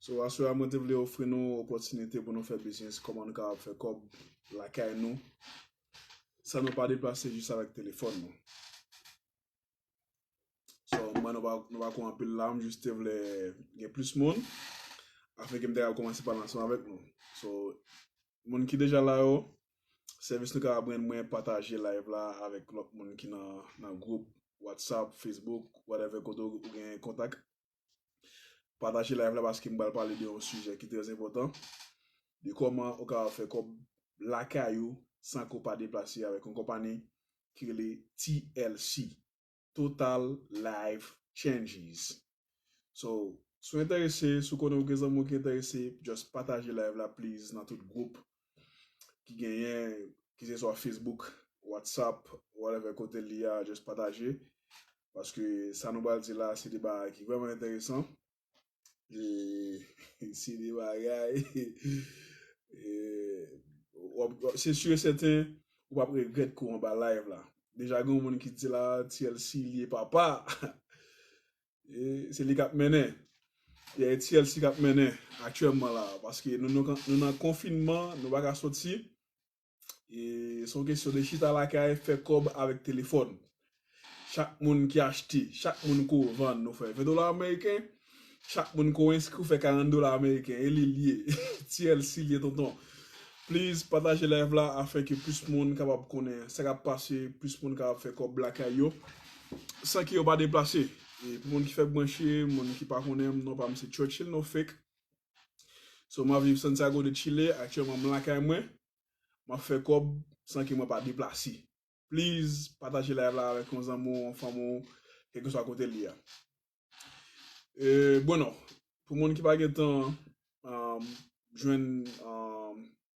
So aswè a mwen te vle ofri nou opòtinite pou nou fè biznis kòman nou kapab fè kòb lakay nou san nou pa deplase jis avèk telefòn nou. So m wè nou pa nou pa ko anpil la m jis te vle gen plis moun afin ke m ta kapab kòmanse pale ansanm avèk nou. So moun ki deja la yo sèvis nou kapab rann mwen pataje live la avèk lòt moun ki nan nan gwoup WhatsApp, Facebook whatever kote ou gen kontak Pataje live la paske m pral pale de yon sijè ki trè enpòtan, de kòman ou kapab fè kòb lakay ou san ke w pa deplase avèk yon konpani ki rele TLC, Total Life Changes. So, si w enterese, si w konnen ou gen zanmi w ki enterese, just pataje live la please nan tout gwoup ki genyen ki se swa Facebook, WhatsApp, whatever kote li a just pataje paske sa nou pral di la se de bagay ki vreman enteresan e se de bagay se sur et certain ou pap regret kou anba live la deja gen yon moun ki di la TLC li e papa. Se li kap mennen. Pierre Etiel si kap mennen aktyèlman la a. Paske nou nou nan konfinman, nou pa ka soti. E se yon kesyon de chita lakay fè kòb avèk telefòn. Chak moun ki achte, chak moun ko vann nou fè 20 dola ameriken. Chak moun ko enskri ou fè 40 dola ameriken. E li l ye. Tièl si l ye tonton. Please pataje live la afin ke plis moun kapab konnen sa kap pase, plis moun kapab fè kòb lakay yo. San ki yo pa deplase. E pou moun ki fèk branche, moun ki pa konnen m, non pa m se Churchill No Fake. So m ap viv Santiago de Chile, aktyèlman m lakay mwen, m ap fè kòb san ke mwen pa deplase. Please pataje live la avèk yon zanmi w, yon fanmi w, kèlkeswa kote l ye a. E Bueno, pou moun ki pa gen tan jwenn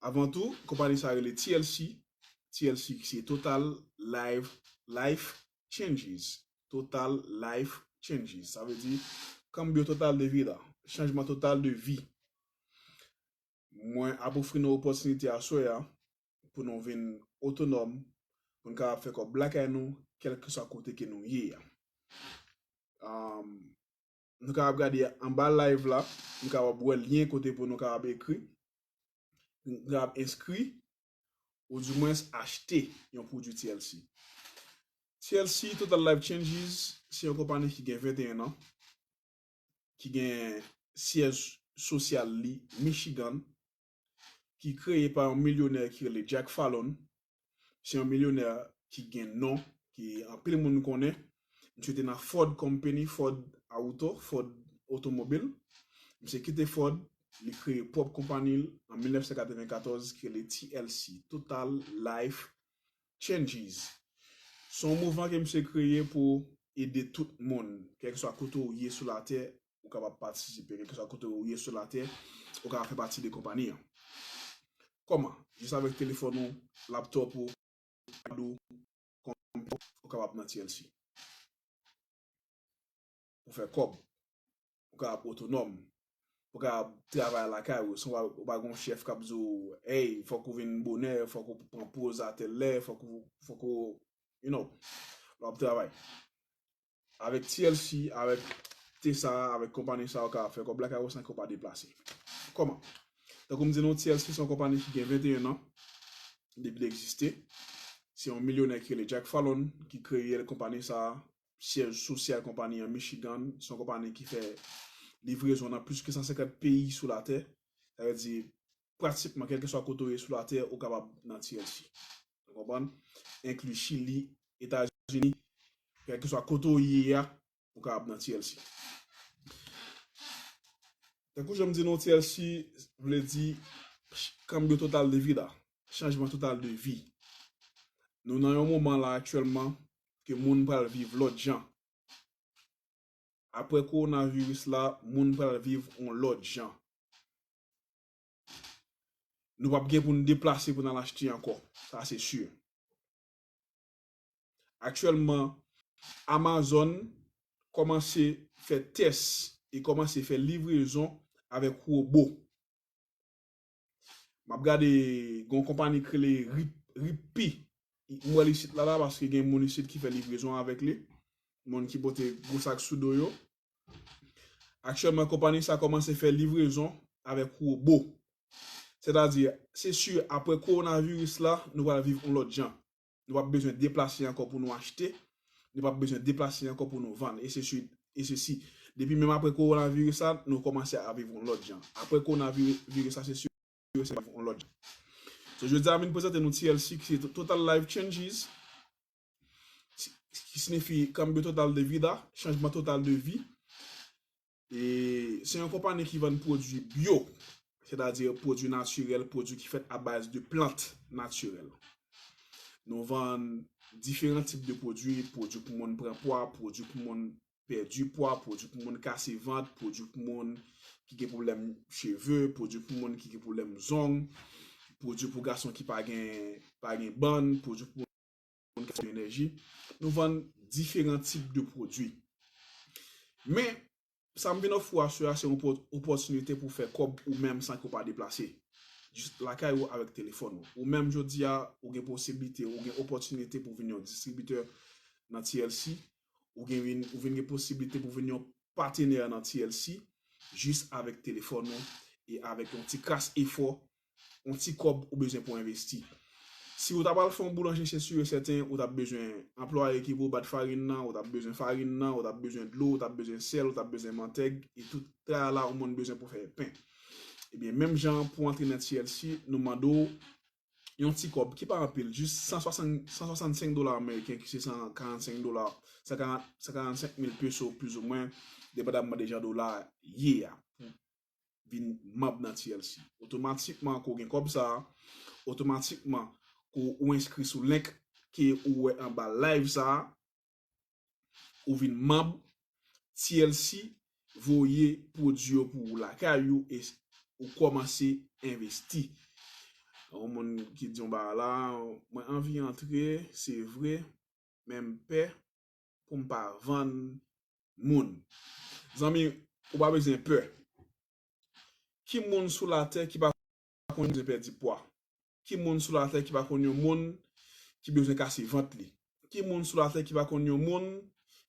Avan tou, konpani sa rele TLC, TLC ki se Total Live Life Changes, Total Life Changes, sa vle di Cambio Total de Vida, Chanjman Total de Vi. Mwen ap ofri nou opòtinite aswè a pou nou vin otonòm, pou nou kapab fè kòb lakay nou kèlkeswa kote ke nou ye a. Nou kapab gade anba live la, nou kapab wè lyen kote pou nou kapab ekri, nou kapab enskri, ou di mwens achte yon pwodwi TLC. TLC, Total Life Changes, se yon konpani ki gen 21 an, ki gen syèj sosyal li Michigan, ki kreye pa yon milyonè ki rele Jack Fallon, se yon milyonè ki gen non, ki anpil moun konnen, misye te nan Ford Company, Ford Auto, Ford Otomobil, misye kite Ford, li kreye pwòp konpani l an 1994 ki rele TLC, Total Life Changes. Se yon mouvman ke misye kreye pou ede tout moun, kèlkeswa kote ou ye sou latè, ou kapab patisipe kèlke swa kote ou ye sou latè, ou kapab fè pati de konpani an. Kòman? Jis avèk telefòn ou, laptop ou, ipad ou, konpitè ou, ou kapab nan TLC. Pou fè kòb, ou kapab otonòm, ou kapab travay lakay ou, san ou pa gen yon chèf kap di ou, hey, fòk ou vin bonè, fòk ou pran poz a tèl lè, fòk ou, you know, lè wap travay. Avèk TLC, avèk Tesa, avèk konpani sa yo ka fè kòb la kay ou san ke w pa deplase. Kòman? Tankou m di nou TLC se yon konpani ki gen 21 an depi li egziste. Se yon milyonè ki rele Jack Fallon ki kreye l konpani sa a. Syèj sosyal konpani an Michigan. Se yon konpani ki fè livrezon nan plis ke 150 peyi sou latè. Sa vle di pratikman kèlkeswa kote ou ye sou latè ou kapab nan TLC. Nou konprann? Enkli Chili, Etazini, kèlkeswa kote ou ye a, ou kapab nan TLC. Tankou jan m di nou TLC vle di Cambio Total de Vida, Chanjman Total de Vi. Nou nan yon moman la aktyèlman ke moun pral viv lòt jan. Aprè kowonaviris la, moun pral viv yon lòt jan. Nou pap gen pou nou deplase pou n al achte ankò, sa se si. Aktyèlman, Amazon kòmanse fè tès e kòmanse fè livrezon avèk wobo. M ap gade gen yon konpani ki rele Rippy, m wè l isit la la paske gen moun isit ki fè livrezon avèk li, moun ki pote gwo sak sou do yo. Aktyèlman konpani sa kòmanse fè livrezon avèk wobo. Sètadi, se si apre kowonaviris la, nou pral viv yon lòt jan. Nou p ap bezwen deplase ankò pou nou achte, nou p ap bezwen deplase ankò pou nou vann, e se si. Depi menm apre kowonaviris la, nou kòmanse ap viv yon lòt jan. Apre kowonaviris la, se si e sèten nou pral viv yon lòt jan. So, jodi a m vin prezante nou TLC ki se Total Life Changes. ki sinifi Cambio Total de Vida, Chanjman Total de Vi. E se yon konpani ki vann pwodui byo, sètadi pwodui natirèl, pwodui ki fèt abaz de plant natirèl. Nou vann diferan tip de pwodui, pwodui pou moun pran pwa, pwodui pou moun pèdi pwa, pwodui pou moun kase vant, pwodui pou moun ki gen pwoblèm cheve, pwodui pou moun ki gen pwoblèm zong, pwodui pou gason ki pa gen bann, pwodui pou moun. moun ki se enèji, nou vann diferan tip de pwodwi. Men, sa m vin ofri w aswè a se yon opòtinite pou w fè kòb ou menm san ke w pa deplase. Jis lakay ou avèk telefòn ou. Ou menm jodi a, ou gen posiblite, ou gen opòtinite pou w vin yon distribitè nan TLC, ou vin gen posiblite pou w vin yon patenè nan TLC jis avèk telefòn ou e avèk yon ti kras efò yon ti kòb ou bezwen pou envesti. Si ou ta pral fè yon boulanje se sur et certain ou tap bezwen anplwaye ki pou bat farin nan, ou tap bezwen farin nan, ou tap bezwen dlo, ou tap bezwen sèl, ou tap bezwen mantèg e tout tralala ou moun bezwen pou fè pen. Ebyen menm jan an pou antre nan TLC nou mande w yon ti kòb ki pa anpil jis 165 dola ameriken ki se 145 dola, 145 mil peso plus ou mwen depandamman de jan dola ye a. vin manb nan TLC. Otomatikman ke w gen kòb sa a, otomatikman ke w enskri sou link ke ou wè anba live sa a, ou vin manb, TLC voye pwodui yo pou ou lakay ou e ou kòmanse envesti. Yon moun ki di yon bagay la, mwen anvi antre, se vre, men m pè. pou m pa vann moun. Zanmi, ou pa bezwen pè. Ki moun sou latè ki pa konn bezwen pèdi pwa? Ki moun sou latè ki pa konn yon moun ki bezwen kase vant li? Ki moun sou latè ki pa konn yon moun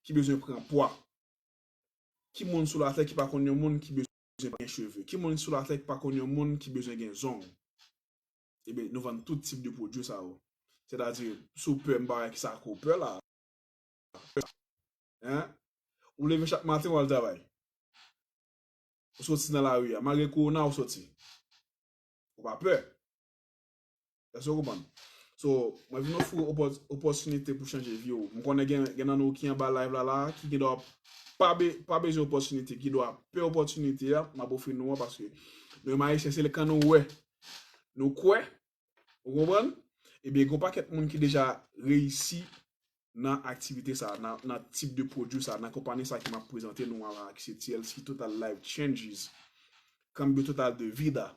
ki bezwen pran pwa? Ki moun sou latè ki pa konn yon moun ki bezwen gen cheve? Ki moun sou latè ki pa konn yon moun ki bezwen gen zong? Ebyen, nou vann tout tip de pwodui sa yo. Sètadi, si w pè, m pa wè kisa ke w pè la a. Hein? Ou leve chak maten ou al travay. Ou soti nan lari a. Malgre kowona ou soti. Ou pa pè. Èske ou konprann? So, mwen vin ofri ou opòtinite pou chanje vi ou. M konnen gen nan nou ki anba live la la ki gen dwa pa bezwen opòtinite, ki dwa pè opòtinite a m ap ofri nou an paske nou menm Ayisyen se lè kan nou wè nou kwè Ou konprann? Ebyen gen yon pakèt moun ki deja reyisi nan aktivite sa, nan tip de pwodui sa, nan konpani sa ke m ap prezante nou an la ki se TLC, Total Life Changes, Cambio Total de Vida.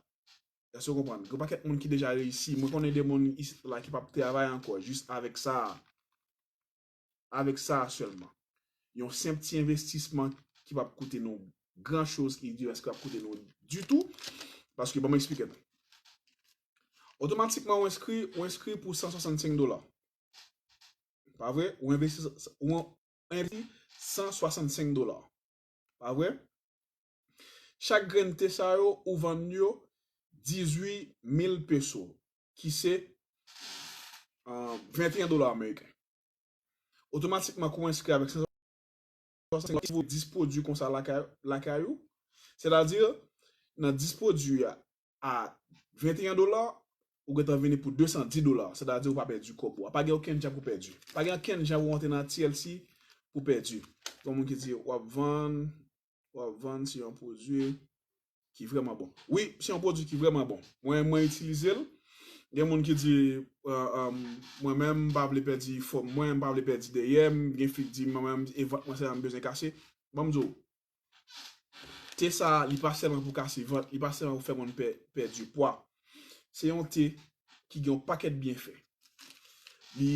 Èske ou konprann? Gen yon pakèt moun ki deja reyisi. Mwen konnen de moun isit la ki p ap travay ankò jis avèk sa a. avèk sa a sèlman. Yon senp ti envestisman ki p ap koute nou gran choz ki di eske ap koute nou ditou. Paske ban m esplike nou. Otomatikman ou enskri, ou enskri pou 165 dola. Pa vre? Ou envesti, ou envesti 165 dola. Pa vre? Chak grenn te sa yo ou vann yo 18 mil peso. ki se 21 dola ameriken. Otomatikman kou enskri avèk 565 goud, si vou 10 pwodui konsa lakay ou, sè ta di nan 10 pwodui a 21 dola, ou gentan vini pou 210 dola, sè ta di ou pa pèdi kòb ou a. Pa gen okenn jan pou pèdi. Pa gen okenn jan pou antre nan TLC pou pèdi. Gen moun ki di wap vann, Wap vann se yon pwodwi ki vrèman bon. Wi, se yon pwodwi ki vrèman bon. Mwen mwen itilize l. Gen moun ki di mwen menm m pa vle pèdi fòm mwen, m pa vle pèdi dèyè m, gen fi k di mwen menm e vant mwen sèlman m bezwen kase. Banm di w, te sa li pa sèlman pou kase vant, li pa sèlman pou fè moun pèdi pwa. Se yon te ki gen yon pakèt byenfè. Li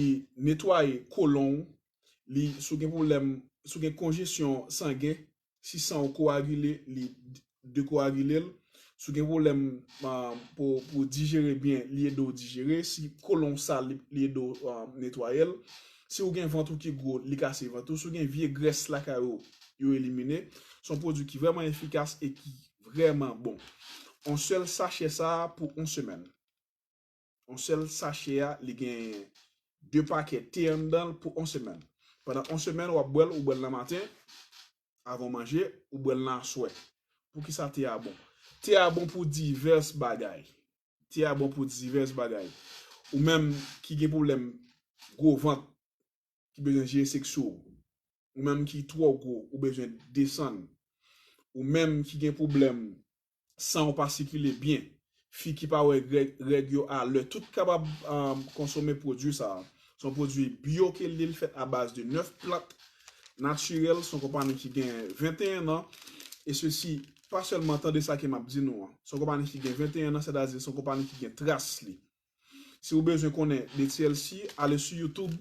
netwaye kolon w, li si w gen pwoblèm, si w gen konjesyon sangen, si san w kowagile li dekowagile l, si w gen pwoblèm pou w dijere byen li ede w dijere, si kolon w sal li ede w netwaye l, si w gen vant ou ki gwo li kase vant ou, si w gen vye grès lakay ou yo elimine, se yon pwodui ki vrèman efikas e ki vrèman bon. On sèl sachè sa pou on semèn. On sèl sache a li gen 2 pakè te anndanl pou on semèn. Pandan on semèn wap bwèl ou bwèl nan maten avan w manje ou bwèl nan aswè. Poukisa te a bon? Te a bon pou divès bagay. Te a bon pou divès bagay. Ou menm ki gen pwoblèm gwo vant ki bezwen jere seksyo w. Ou menm ki twò gwo ou bezwen desann. Ou menm ki gen pwoblèm san w pa sikile byen, fi ki pa wè règ yo a lè tout kapab konsome pwodwi sa. Se yon pwodwi byo ke l ye, li fèt abaz de 9 plant natirèl, se yon konpani ki gen 21 an, e sesi pa sèlman tande sa ke m ap di nou an, se yon konpani ki gen 21 an, sètadi se yon konpani ki gen tras li. Si ou bezwen konnen de TLC, ale sou YouTube,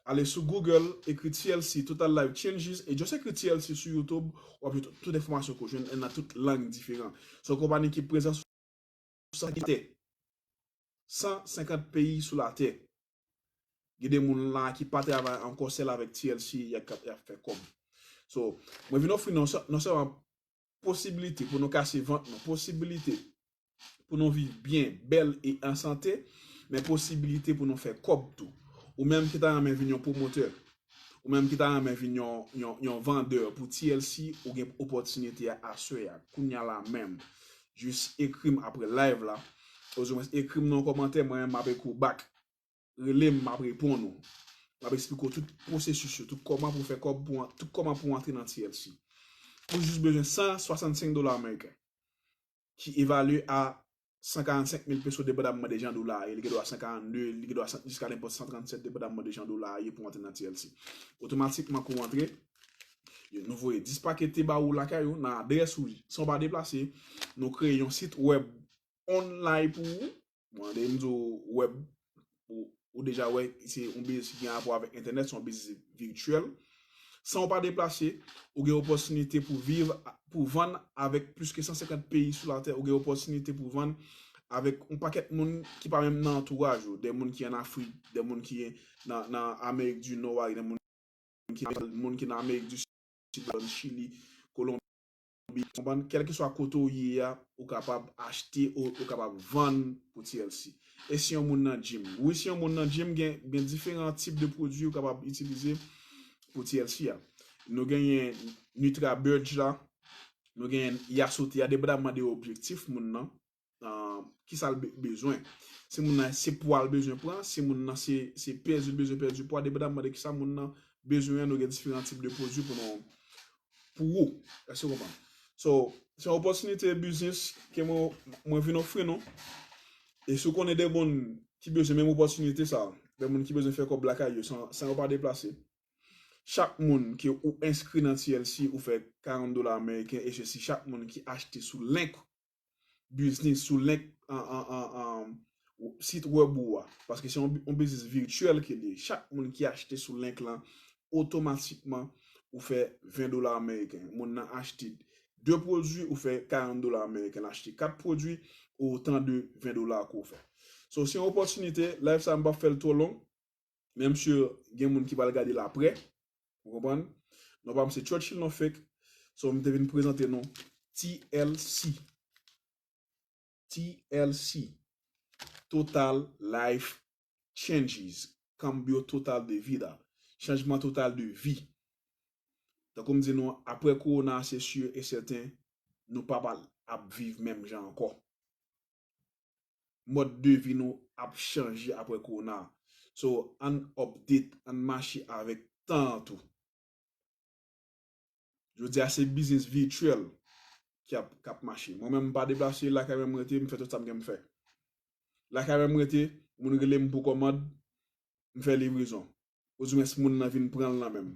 ale sou Google, ekri TLC, Total Life Changes, e just ekri TLC sou YouTube, wap jwenn tout enfòmasyon ke ou jwenn nan tout lang diferan. Se yon konpani ki prezan sou 150 peyi sou latè. Gen de moun la ki pa travay ankò sèl avèk TLC yap fè kòb. So, mwen vin ofri nou non sèlman Posibilite pou nou kase vant nou, posibilite pou nou viv byen, bèl e an sante, men posibilite pou nou fè kòb tou. Ou menm ki ta renmen vin yon pwomotè, ou menm ki ta renmen vin yon vandè pou TLC, ou gen opòtinite a aswè a, kounya la menm. Jis ekri m aprè live la, ozoumwens ekri m nan yon kòmantè, mwen menm m ap ekri w back. Rele m m ap reponn ou. M ap esplike w tout pwosesis yo, tout kòman pou fè kòb, tout kòman pou antre nan TLC. Ou jis bezwen 165 dola ameriken ki evalye a 145 mil peso depandamman de jan dola a ye. Li gen dwa 142, li gen dwa jiska nenpòt 137 depandamman de jan dola a ye pou antre nan TLC. Otomatikman kou w antre, nou voye 10 pake te ba ou lakay ou, nan adrès ou san w pa deplase. Nou kreye yon sit wèb online pou ou. Mwen deyim di w web, ou deja wè se yon biznis ki gen rapò avèk entènèt, se yon biznis virtuel. San ou pa deplase, ou gen opòtinite pou viv, pou vann avèk plis ke 150 peyi sou latè, ou gen opòtinite pou vann avèk yon pakèt moun ki pa menm nan antouraj ou, de moun ki an Afrik, de moun ki nan Amerik di Nò a, de moun ki nan Amerik di Sid, Chili, Kolonbi. Kolonbi, konprann kèlkeswa kote ou ye a, ou kapab achte o ou kapab vann pou TLC. E si yon moun nan gym? Wi si yon moun nan gym gen gen diferan tip de pwodui ou kapab itilize pou TLC a. Nou genyen Nutrabudge la, nou genyen Yasote a, depandaman de objektif moun nan, Kisa l bezwen. Si moun nan se pwa l bezwen pran, si moun nan se pèdi l bezwen pèdi pwa, depandamman de kisa moun nan bezwen an nou gen diferan tip de pwodui pou nou pou ou. Èske ou konprann? So, se yon opòtinite biznis ke mwen vin ofri nou. E si ou konnen de moun ki bezwen menm opòtinite sa, de moun ki bezwen fè kòb lakay yo san yo pa deplase. Chak moun ke ou enskri nan TLC ou fè 40 dola ameriken e se si chak moun ki achte sou link biznis sou link sit web ou a. Paske se yon biznis virtuel ke li ye. Chak moun ki achte sou link lan, otomatikman ou fè 20 dola ameriken. Moun nan achte 2 pwodwi, ou fè 40 dola ameriken. Achte 4 pwodwi, ou otan de 20 dola ke ou fè. So, se yon opòtinite, live sa m pap fè l twò long. Menm si gen moun ki pral gade l aprè. Ou konprann? Non pa m se Churchill non fake. So m te vin prezante nou TLC. TLC, Total Life Changes. Cambio total de vida. Chanjman total de vi. Tankou m di nou an, aprè Corona a se sur et certain, nou pa pral ap viv menm jan ankò. mòd de vi nou ap chanje aprè kowona a. So ann update, ann mache avèk tan an tou. Jodi a se biznis vityèl ki ap k ap mache. Mwen menm m pa deplase, lakay mwen m rete, m fè tout sa m gen pou m fè. Lakay mwen m rete, moun rele m pou kòmand, m fè livrezon. Oudimens moun nan vin pranl nan menm.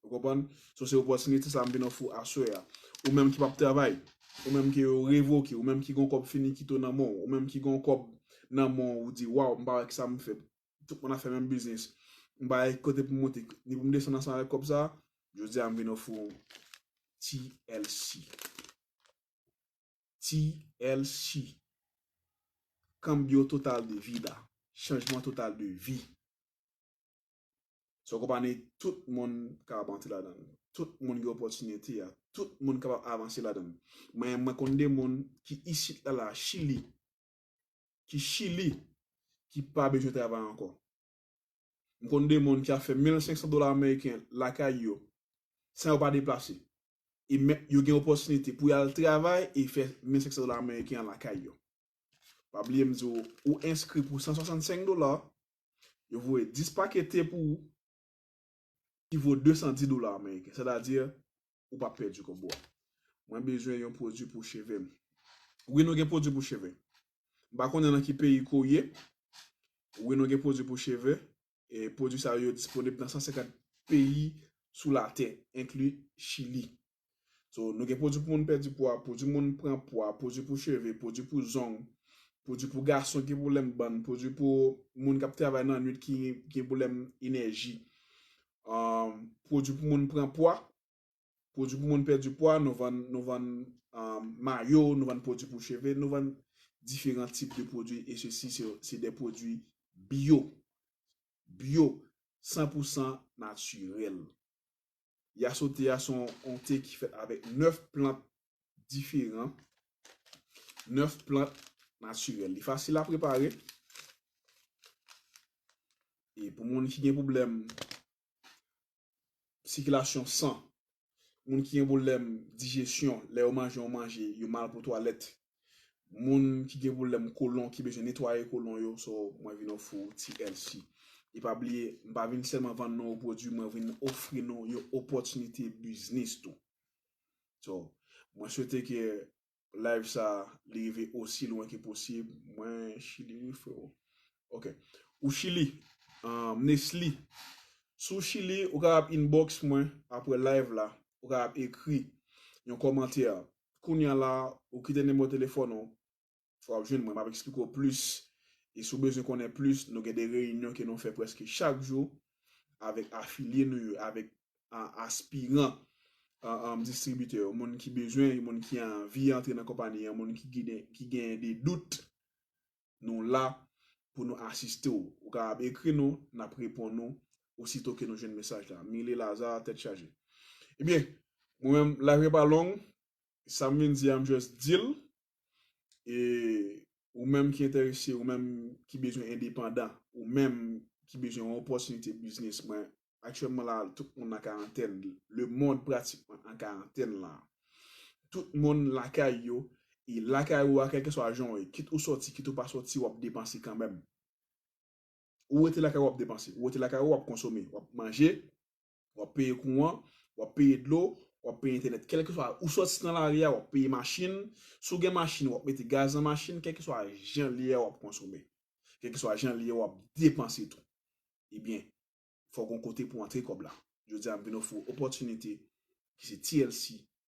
Ou konprann? So se opòtinite sa m vin ofri w aswè a. Ou menm ki pap travay, ou menm ke yo revoke, ou menm ki gen yon kòb finikito nan men w, ou menm ki gen yon kòb nan men w ou di waw m pa wè kisa m fè tout moun ap fè menm biznis m pa wè ki kote pou m monte ni pou m desann ansanm avèk kòb sa, jodi a m vin ofri w TLC. TLC. Cambio total de vida. Chanjman total de vi. Se yon konpani tout moun ka ap antre ladan l. Tout moun gen opòtinite a. Tout moun kapab avanse ladan l. Mwen mwen konn de moun ki isit la la Chili, ki Chili, ki pa bezwen travay ankò. M konn de moun ki ap fè 1500 dola ameriken lakay yo san yo pa deplase. E men yo gen opòtinite pou y al travay e fè 1500 dola ameriken an lakay yo. Pa bliye m di w ou enskri pou 165 dola, yo voye 10 pake te pou ou ki vo 210 dola ameriken. Sètadi ou pa pèdi kòb ou. Mwen bezwen yon pwodui pou cheve m. Wi nou gen pwodui pou cheve. M pa konnen nan ki peyi ke w ye. Wi nou gen pwodui pou cheve. Pwodwi sa yo disponib nan 150 peyi sou latè, enkli Chili. So, nou gen pwodwi pou moun pèdi pwa, pwodwi moun pran pwa, pwodwi pou cheve, pwodwi pou zong, pwodwi pou gason ki gen pwoblèm bann, pwodwi pou moun k ap travay nan nwit ki gen pwoblèm enèji, pwodwi pou moun pran pwa. Pwodwi pou moun pèdi pwa, nou vann nou vann mayo, nou vann pwodwi pou cheve, nou vann diferan tip de pwodwi e se si se de pwodwi biyo. Biyo, san pou san natirèl. Yaso te a son on te ki fèt avèk 9 plant diferan, 9 plant natirèl. Li fasil a prepare e pou moun ki gen pwoblèm sikilasyon san, moun ki gen pwoblèm dijesyon, lè yo manje yon manje yo mal pou twalèt, moun ki gen pwoblèm kolon ki bezwen netwaye kolon yo, so mwen vin ofri w TLC. E pa bliye, m pa vin sèlman vann nou yon pwodui, mwen vin ofri nou yon opòtinite biznis tou. So, mwen swete ke live sa li rive osi lwen ke posib mwen chili wi freo ok ou chili m nesly si w chili ou kapab inbox mwen aprè live la ou kapab ekri yon kòmantè kounya la ou kite nimewo telefòn ou fò wap jwenn mwen map eksplike w plis e si w bezwen konnen plis nou gen de reyinyon ke nou fè prèske chak jou avèk afilye nou yo, avèk aspiran distribitè yo, moun ki bezwen, moun ki anvi antre nan konpani an, moun ki genyen de dout, nou la pou nou asiste w. Ou kapab ekri nou, n ap reponn ou osito ke nou jwenn mesaj la. Mile Lazarre, Tèt chaje. Ebyen, mwen menm, live yo pa long, sa m vin di a m just di l, e Ou menm ki enterese, ou menm ki bezwen endepandan, ou menm ki bezwen yon opòtinite biznis mwen aktyèlman la tout moun nan karantèn, le mond pratikman an karantèn la. Tout moun lakay yo e lakay ou a kèlkeswa jan ou ye kit ou sòti kit ou pa sòti wap depanse kanmenm. Ou rete lakay ou wap depanse, ou rete lakay ou wap konsome, wap manje, Wap peye kouran, wap peye dlo, wap peye entènèt kèlkeswa ou sòti nan lari a wap peye machin, si w gen machin wap mete gaz nan machin kèlkeswa jan li ye a wap konsome, kèlkeswa jan li ye a wap depanse tou. Ebyen fòk gon kote pou antre kòb la. Jodi a m vin ofri w opòtinite ki se TLC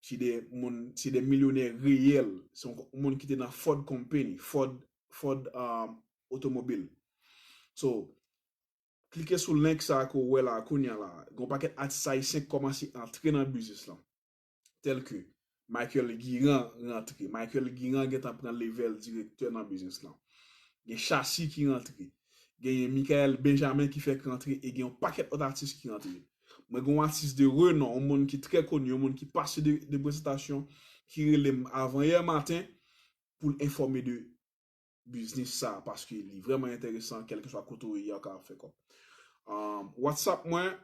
Se de moun, se de milyonè reyèl. Se yon moun ki te nan Ford Company, Ford, Ford otomobil. So, klike sou link sa ke w wè la kounya la. Gen yon pakèt atis ayisyen ki kòmanse antre nan biznis lan. Tèl ke, Michael Guirand rantre. Michael Guirand gentan pran levèl direktè nan biznis lan. Gen Shassy ki rantre. Genyen Mickaël Benjamin ki fèk rantre e gen yon pakèt lòt atis ki rantre. Mwen gen yon atis de renon, yon moun ki trè koni, yon moun ki pase de presantasyon ki rele m avan yè maten pou l enfòme de biznis sa a paske li vrèman enteresan kèlkeswa kote ou ye ya ou kapab fè kòb. Whatsapp mwen,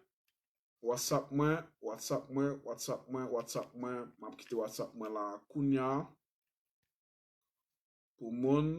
Whatsapp mwen, Whatsapp mwen, Whatsapp mwen, Whatsapp mwen, m ap kite Whatsapp mwen la kounya pou moun.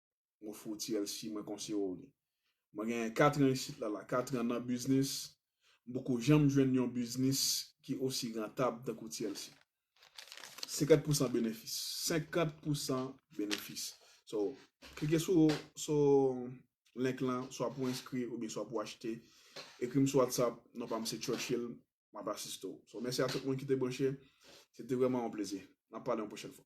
Mwen fouti el si mwen konseyew li. Mwen genyen 4 an isit la la 4 an nan biznis m poko janm jwenn yon biznis ki osi rantab tankou ti el si. 50 pousan benefis 50 pousan benefis so klike sou sou link lan swa pou enskri oubyen swa pou achte ekrim sou whatsapp non pam se Churchill map asiste w so mèsi a tout moun ki te branche se te vrèman yon plezi nap pale yon pwochèn fwa.